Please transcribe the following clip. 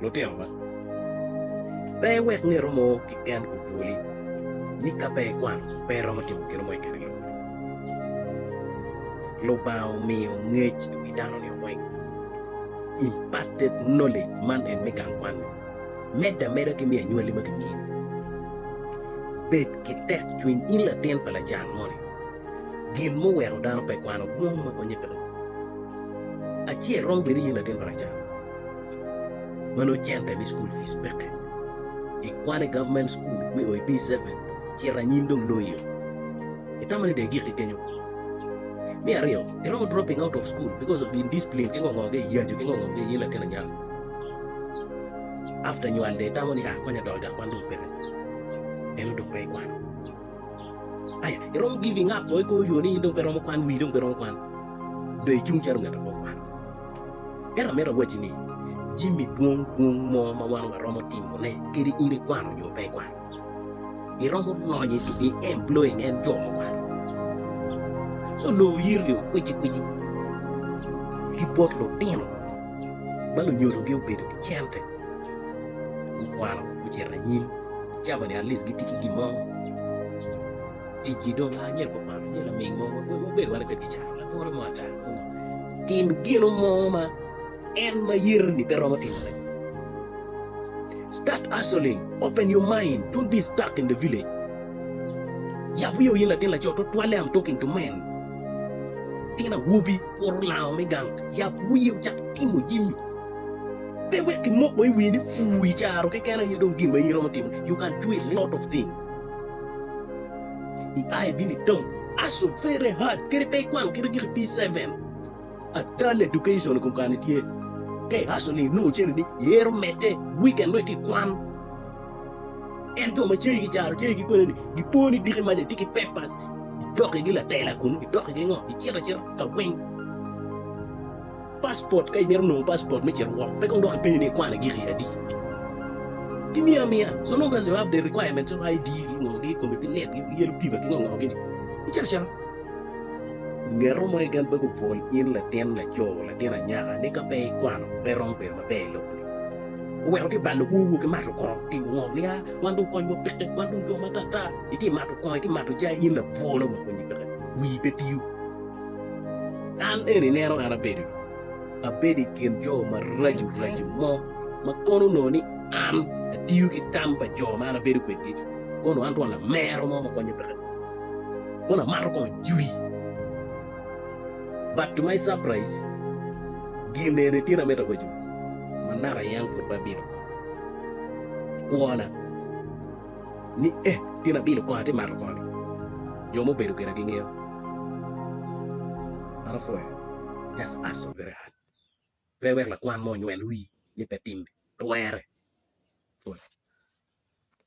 Lutino ma, pe iwek nge romo kiken obwoli ni ka pe ikwano pe iromo timo gin mo i kare lubo. Lubanga omiyo ngec i wi dano nio weng, imparted knowledge, man en me gang kwan-ni, medde ameda ki me anywali ma kimiyo ni. Bed ki tek cwiny in latin pa lacan moni, gin muweko dano pe kwano dwong ma konye peke. Acel romo bedo ni in latin pa lacan. ma nongo cente me cukul pic peke, ikwane i gavment cukul me oi D7 cito anyim dong loyo, itamo ni dong igikki kenyo. Me aryo, iromo dropping out of school because of indiscipline ki ngo ngo ki iyacu ki ngo ngo ki in latin anyaka. After nywal dong itamo ni ah konya dok i gang kwan dong peke, eno dong pe ikwano. Aya, iromo giving up o ikor yo ni in dong pe iromo kwan, wii dong pe iromo kwan. Dong icung calo ngat apo kwan. Ento amito awacci ni, jami dwong dwong mo ma wan waromo timone kadi in ikwano nyo pe ikwano, iromo lonyo i employing en jo ma okwano. So loo oyiri o kwici kwici ki bot lutino ma lunyodogi obedo ki cente. gukwano gucito anyim cabo ni atleast gitye ki gin mo ticgi dong a nyo gukwano nyo laming mo wabedo wano kwede kica lapore mo ata tim gino mo ma en ma yero ni pe romo timone start hustling open your mind don't be stuck in the village yab wiyo in latin laco tutwalle am talking to men latin awobi kuru lango me gang yab wiyo cak timo jimi Pe wek kimoko i wi ni pur i caro keken aye dong gin ma in iromo timo. You can do a lot of thing. I aye bino i town. Aso very hard. Kadi pe ikwano kite gik pi seven. Adal education i kom kani tye. Ke aso ni inongo cene ni yero mete weekend no iti kwan. En jo ma cegi caro cegi ki kwene ni gipo ni diki maja ti ki papers. Idok igi latela kunu. Idok igi ngo. Icito acita ka weng. Passport, Ka imito nongo passport me cito woko, pe kong dok ipenyo ni ikwane giki adi. Timi amiya, so long as you have the requirements of ID gi ngo gi kome pe lit gi yellow fever ki ngo ngo gi ni, icito acita. Ngeto mo keken pe gupwol in latin laco, latin anyaka ni ka pe ikwano pe iromo bedo maber i lobo ni. Oweko tye balo kwowu ki mato kongo, timo ngo ni a wan dong kony wa peke, wan dong jo ma ata ata. Itye mato kongo, itye mato jai in lapwolo ma konyi peke, wii pe tiyo. An eni ineno an abedo, abedo i kin jo maraco raco mo ma kono onongo ni an atiyo ki tam pa jo ma an abedo kwedgi, kono an twon lamero mo ma konyo peke dong, kono amato kongo jwi. But to my surprise, gin eni tin amito awaco, manaka yam pud pe abino kwona. ni, 'Eh, pien abino kong atye mato koni. Jo ma obedo kwena gingeyo man opwoyo. Just hustle very hard. Pe iwek lakwan mo onywel wii ni pe timmi, pe werre.